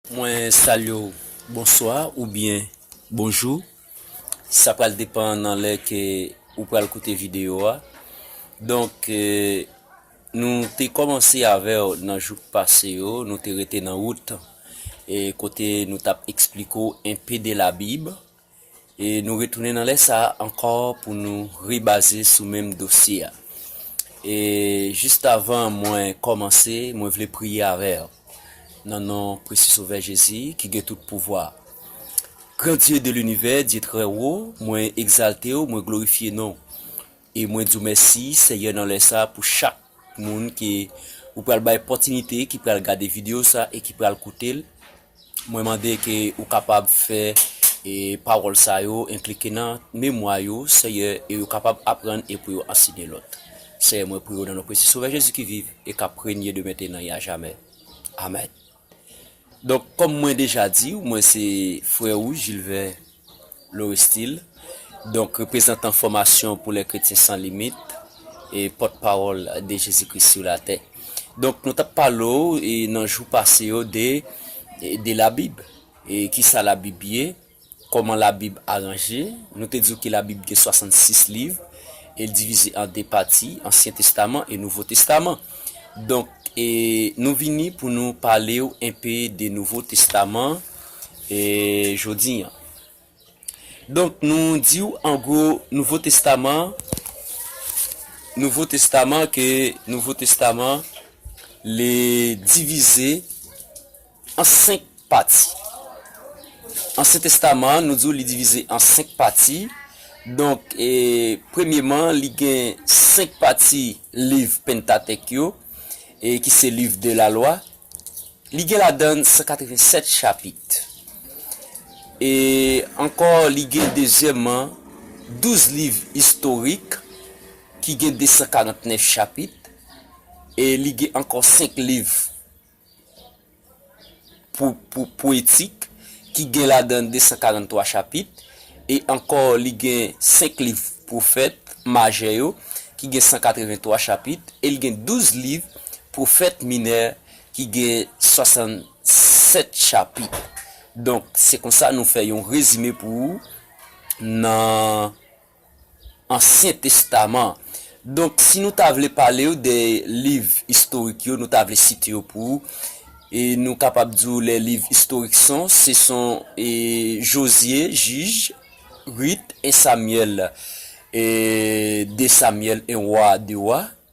Mwen salye w bonswa ou byen bonjou sa pral depan nan lè ke ou pral koute video a donk nou te kòmanse avè w nan jou k pase yo nou te rete nan wout kote nou tap eksplike w enpe de la bib E nou retounen nan lè sa a ankò pou nou rebaze sou menm dosye a. E jistavan mwen kòmanse, mwen vle priye avè w nan non presi Sovè Jezi ki gen tout pouvwa. Gran Dye de linivè, Dye trè wo, mwen egzalte w, mwen glorifye non w. E mwen di w mèsi Seyè nan lè sa pou chak moun ke ou pral bay pòtinite ki pral gade video sa e ki pral koute l. Mwen mande ke ou kapab fè e pawòl sa yo enklike nan memwa yo Seyè e yo kapab aprann e pou yo anseye lòt. Seyè mwen priye w nan non presi Sovè Jezi ki viv e kap renye de mentena e ajamè. Amèn. Donk kòm mwen deja di w mwen se frè ou Jilvè Lorestil, donk reprezantan Fòmasyon pou lè Kretyen san limit e pòt pawòl de Jezi Kris sou latè. Donk nou t ap pale w nan jou pase yo de de labib e kisa labib ye, Kòman Labib aranje? Nou te di w ke Labib gen 66 liv, e l divize an 2 pati, Ansyen Testaman e Nouvo Testaman. Donk, nou vini pou nou pale w enpe de Nouvo Testaman jodi an. Donk, nou di w an gwo, Nouvo Testaman, Nouvo Testaman, ke Nouvo Testaman, li divize. An senk pati. Ansyen Testaman an, nou di w li divize an senk pati. Donk, premyeman, li gen senk pati liv Penntatèk yo, ki se Liv de Lalwa. Li gen ladan l 187 chapit. E ankò, li gen dezyèmman douz liv istorik ki gen 249 chapit. E li gen ankò senk liv pwetik ki gen ladan l 243 chapit, e ankò li gen senk liv pwofèt majè yo ki gen 183 chapit, e li gen douz liv pwofèt minè ki gen 67 chapit. Donk, se konsa nou fè yon rezime pou ou nan. Ansyen Testaman an. Donk, si nou ta vle pale ou de liv istorik yo, nou ta vle site yo pou ou, e nou kapab di ou lè liv istorik son, se son e Jozye, Jij, Rit, 1 Samyèl, e 2 Samyèl, 1 Wa, 2 Wa.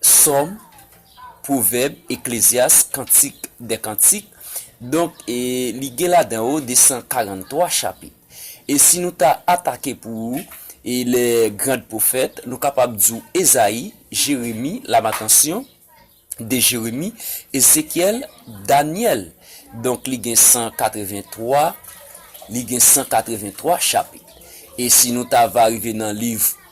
Sòm, Pwovèb, Eklezyas, Kantik dè kantik, donk li gen ladan yo 243 chapit. E si nou ta atake pou lè grand pwofèt, nou kapab di w Ezayi, Jeremi, Lamatansyon, de Jeremi, Ezekyèl, Danyèl. Donk li gen 183, li gen 183 chapit. E si nou ta va rive nan liv.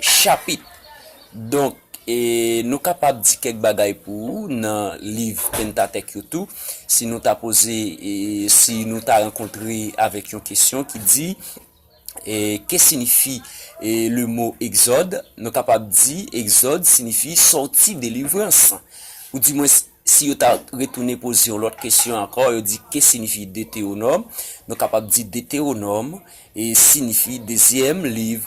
Chapit. Donk, nou kapab di kèk bagay pou ou nan liv Pentatek yo tou, si nou ta poze, si nou ta rankontre avèk yon kesyon ki di, Ke sinifi le mo Egzòd? Nou kapab di, Egzòd sinifi sòti, delivrans. Ou di mwens, si yo ta retounen poze yon lòt kesyon ankò, yo di, Ke sinifi Detewonòm? Nou kapab di, Detewonòm sinifi dezyèm liv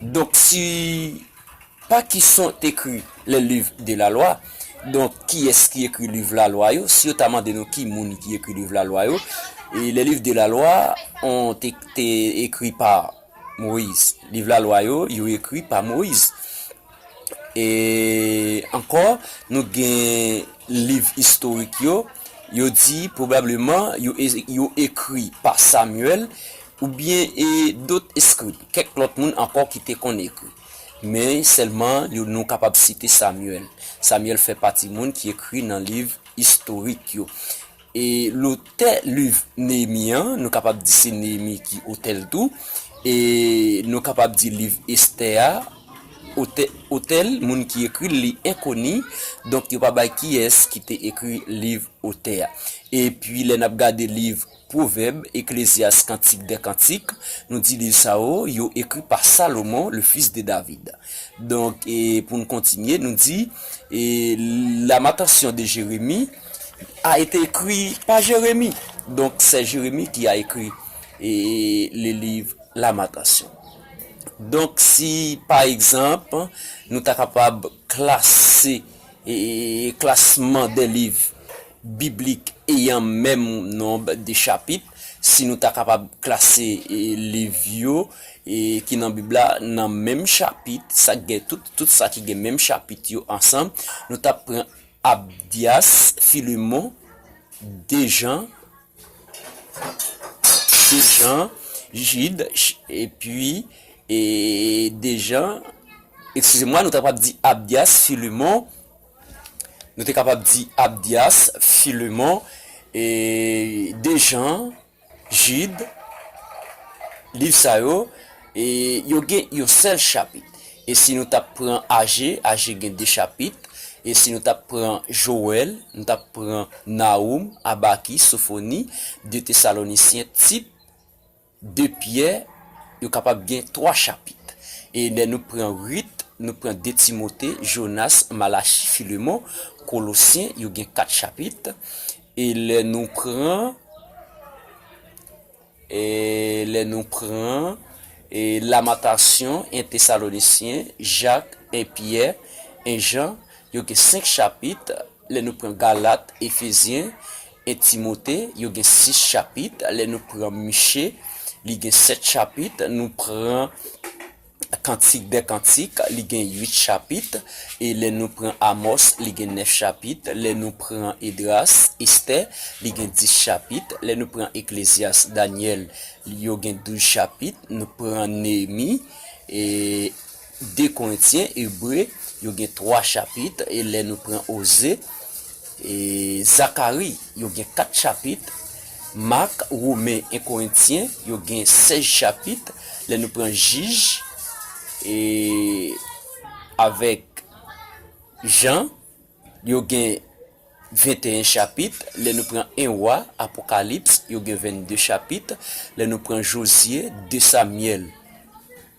Donk si pa ki son t ekri les livres de la loi donk kiyès ki ekri liv lalwa yo si yo ta mande nou ki moun ki ekri liv lalwa yo e les livres de la loi on te te ekri pa moise liv lalwa yo yo ekri pa moise E ankò, nou gen liv istorik yo, yo di pwobableman yo ekri pa Samyèl oubyen dot eskrib, kèk lòt moun ankò ki te konn ekri. Men, sèlman yo nou kapab site Samyèl. Samyèl fè pati moun ki ekri nan liv istorik yo. E lotè liv Neyemi an, nou kapab di se Neyemi ki otè l tou. E nou kapab di liv Estè a, otè l, moun ki ekri l, li enkoni. Donk, yo pa bay kiyès ki te ekri liv Otè a. Epi, lè n ap gade liv Pwovèb, Eklezyas, Kantik dè kantik, nou di liv sa yo, yo ekri pa Salomon, le fis de David. Donk, pou n kontinye, nou di, e la matansyon de Jeremi. a été ekri pa Jeremi, donk sè Jeremi ki a ekri e le liv Lamentasyon. Donk si pa egzanp nou ta kapab klase e klasman de liv biblik eyan menm nonb de chapit, si nou ta kapab klase e liv yo e ki nan bib la nan menm chapit sa gen tout tout sa ki gen menm chapit yo ansanm nou tap pran Abdias, Philemon, Dejean, Dejean, Jude, epi, e, Dejean, ekskizemwa, nou ta kapab di Abdias, Philemon, nou te kapab di Abdias, Philemon, e, Dejean, Jid, liv sa yo, yo gen yon sèl chapit. E si nou t ap pran Aje, Aje gen de chapit. E si nou t ap pran Jowèl, nou t ap pran Nawoum, Abakik, Sofoni, de Tesalonisyen, Tit, de Pyè, yo kapab gen twa chapit. E lè nou pran Rit, nou pran de Timote, Jonas, Malachi, Filemon, Kolosyen, yo gen kat chapit. E lè nou pran, e lè nou pran, e Lamentasyon, 1 Tesalonisyen, Jak, 1 Pyè, 1 Jan, yo gen senk chapit, lè nou pran Galat, Efezyen, 1 Timote, yo gen sis chapit, lè nou pran Miche, li gen sèt chapit, nou pran. Kantik dè kantik, li gen 8 chapit, e lè nou pran Amòs, li gen 9 chapit, lè nou pran Edras, Estè, li gen 10 chapit, lè nou pran Eklezyas, Danyèl, yo gen 12 chapit, nou pran Neyemi, e 2 Korentyen, Ebre, yo gen 3 chapit, e lè nou pran Oze, Zakari, yo gen kat chapit, Mak, Women, 1 Korentyen, yo gen sèz chapit, lè nou pran Jij, e, avèk Jan, yo gen venteyen chapit, lè nou pran 1 Wa, Apokalips, yo gen vennde chapit, lè nou pran Jozye, de Samyèl.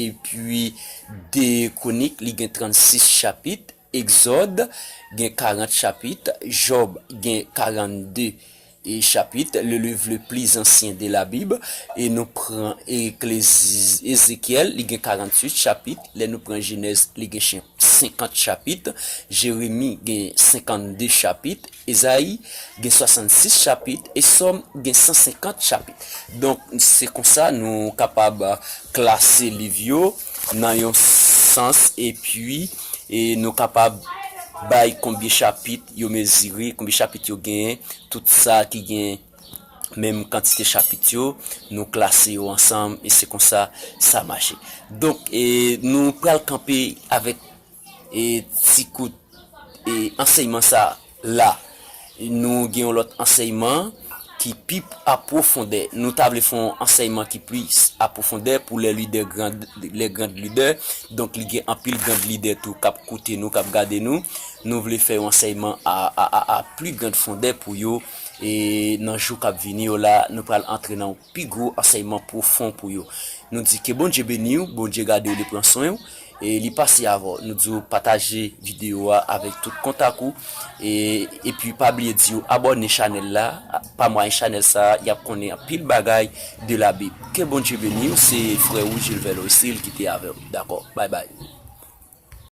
Epi, de Kwonik li gen 36 chapit, Egzòd gen 40 chapit, Jòb gen 42 chapit, le liv le pli zansyen de la Bib, e nou pran Ezekyèl li gen 48 chapit, lè nou pran Jenèz li gen 50 chapit, Jeremi gen 52 chapit, Ezayi gen 66 chapit e Sòm gen 150 chapit. Donk, se konsa nou kapab klase liv yo nan yon sans epi nou kapab bay konbyen chapit yo mezire, konbyen chapit yo genyen. Tout sa ki gen menm kantite chapit yo, nou klase yo ansanm e se konsa sa mache. Donk, nou pral kanpe avèk E ti kout e ansèyman sa la. Nou gen yon lòt ansèyman ki pi apwofondè. Nou ta vle fè yon ansèyman ki plis apwofondè pou lè lidè grand, lè grand lidè. Donk li gen anpil grand lidè tou k ap koute nou, k ap gade nou. Nou vle fè yon ansèyman a, a, a, a pli grand fondè pou yo. E nan jou k ap vini yo la, nou pral antre nan yon. pi gwo ansèyman pwofon pou yo nou di ke Bondye beniw Bondye gadew li pran swenw e li pase avèw nou diw pataje video a avèk tout kontak ou e epi pa bliye di yo abòne chanèl la pa mwayen chanèl sa yap konnen anpil bagay de la bib ke Bondye beniw se frè ou Jilvè Loisil ki te avèw dakò bay bay.